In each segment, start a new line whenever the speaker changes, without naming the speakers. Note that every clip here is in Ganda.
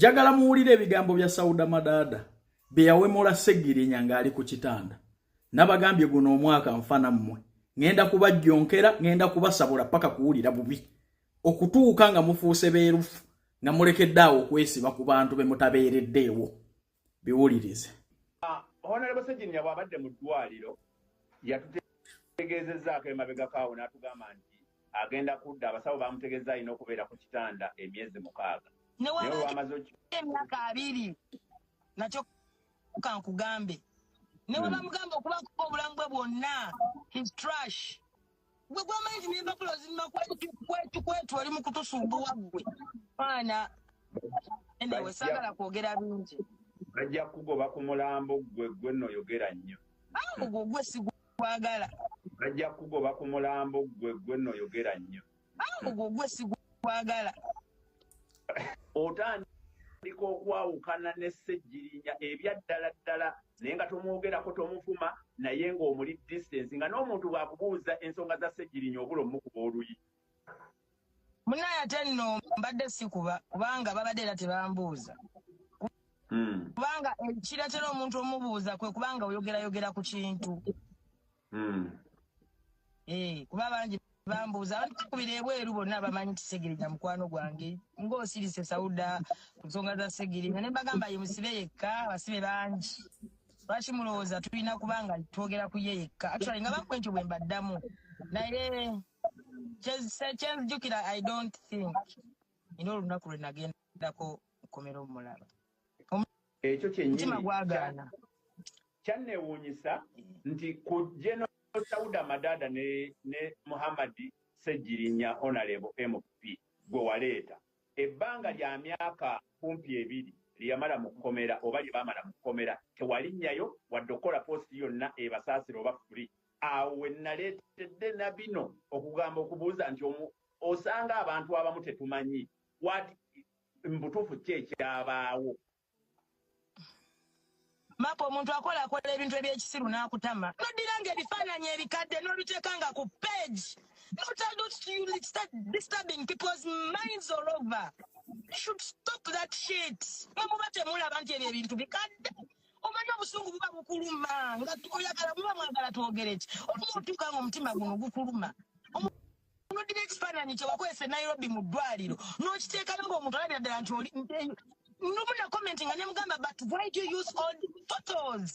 njagala muwulire ebigambo bya sauda madaada bye yawemola segirinya ng'ali ku kitanda nabagambye guno omwaka nfana mmwe ŋenda kubajjonkera ŋenda kubasabula paka kuwulira bubi okutuuka nga mufuuse beerufu nga mulekedde awo okwesiba ku bantu be mutabeereddeewo biwulirize ah,
honalebo segirinya bw'abadde mu ddwaliro yatutegeezezaako emabegako awo n'atugamba nti agenda kudda abasawo bamutegeza alina okubeera ku kitanda emyezi mukaaga newamazeemyaka
abiri nakyo kankugambe newabamugamba hmm. okubakuba obulamu bwe bwonna his trash gwe gwamanyi nti nempapula ozirima kwetu kwetu oli mu kutusumbuwa gwe baana enewe sagala kwogera bingi bajja kugoba
ku mulambo gwe gwe noyogera nnyo gwe gwe
sigwe kwagala bajja
kugoba ku mulambo gwe gwe noyogera nnyo ogwo gwe
sikwagala
otandika okwawukana ne ssejjirinya ebyaddala ddala naye nga tomwogerako tomufuma naye ng'omuli distance nga n'omuntu bwakubuuza ensonga za ssejjirinya obula omukuba oluyi
munaye ate nno mbadde sikuba kubanga babadde era tebambuuza hmm. kubanga ekiratera omuntu omubuuza kwe kubanga oyogerayogera ku kintu hmm. eh, kuba bangi bambuuza abakubira ebweru bonna bamanyi nti segirinya mukwano gwange ngaosirise sauda ku nsonga za segirinya ne bagamba ye musibe yekka abasibe bangi lwaki mulowooza tulina kubanga twogera ku ye yekka actually nga bakuba nti bwe mbaddamu naye kyenzijukira i don't think nina olunaku lwe nagendako nkomera omulaba
ekyo kyenyini gwagaana
kyanneewuunyisa
nti ku geno sauda madada ne, ne muhammadi ssegirinya onalebo mp gwe waleeta ebbanga lya myaka kumpi ebiri lyeyamala mu kkomera oba lye baamala mu kkomera tewalinnyayo wadde okukola poosti yonna ebasaasira oba fuli awo we nnaleetedde na bino okugamba okubuuza nti omu osanga abantu abamu tetumanyi wat mbutuufu ki ekyabaawo
mapa omuntu akola akola ebintu ebyekisiru n'akutama noddiranga ebifaananyi ebikadde n'obiteekanga ku page disturbing people's minds all over you should stop that shit mwemuba temulaba nti ebyo ebintu bikadde omanyi obusungu buba bukuluma nga oyagala buba mwagala twogere ki olumu otuuka nga omutima guno gukuluma olodira ekifaananyi kyewakozesa e nairobi mu ddwaliro n'okiteekayo ngaomuntu alabira ddala nti oli nomuna commenti nga nemugamba but why do you use old photos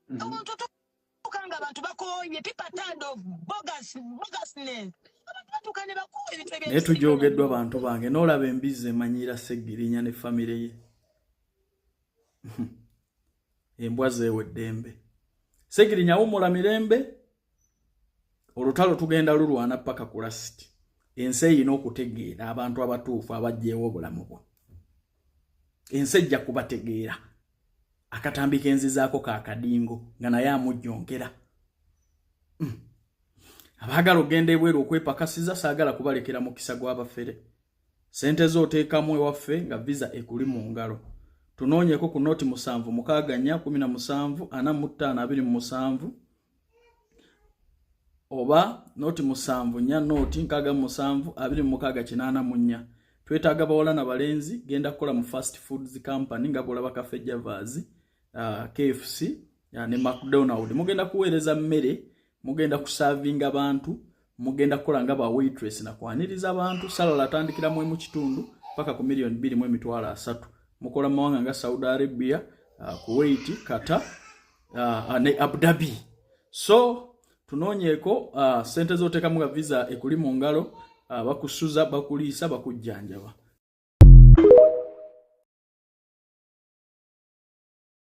Mhm. omuntu tuuka nga abantu bakooye pipatando bogasness abantu batuuka ne bakooye ebintu ebye- naye tujoogeddwa bantu
bange n'olaba embizzi emanyiira seggirinya ne famire ye embwa zeewa eddembe seggirinya awummula mirembe olutalo tugenda lulwana paka ku last ensi eyina okutegeera abantu abatuufu abajjeewo obulamu bwo ensi ejja kubategeera akatambi kenzizaako ka kadingo nga naye amujjonkera hmm. abaagala okugenda ebweru okwepakasiza saagala kubalekera mukisa gw'abafere sente zo oteekamu ewaffe nga visa ekuli mu ngalo tunoonyeko ku nooti musanvu mukaaga nnya kumi na musanvu ana mu ttaano abiri mu musanvu oba noti musanvu nya noti nkaga musanvu abiri mukaga kinana munya twetaga bawala na balenzi genda kola mu fast foods company nga bola bakafe javas uh, ah, KFC ya ne McDonald mugenda kuwereza mmere mugenda kusavinga bantu mugenda kukola nga ba waitress na kwaniriza abantu salala atandikira mu kitundu paka ku million 2 mu emitwalo asatu mukola mawanga nga Saudi Arabia uh, Kuwait Qatar uh, uh ne Abu Dhabi so tunonyeko uh, sente zoteka mu visa ekuli mu ngalo uh, bakusuza bakulisa bakujjanjaba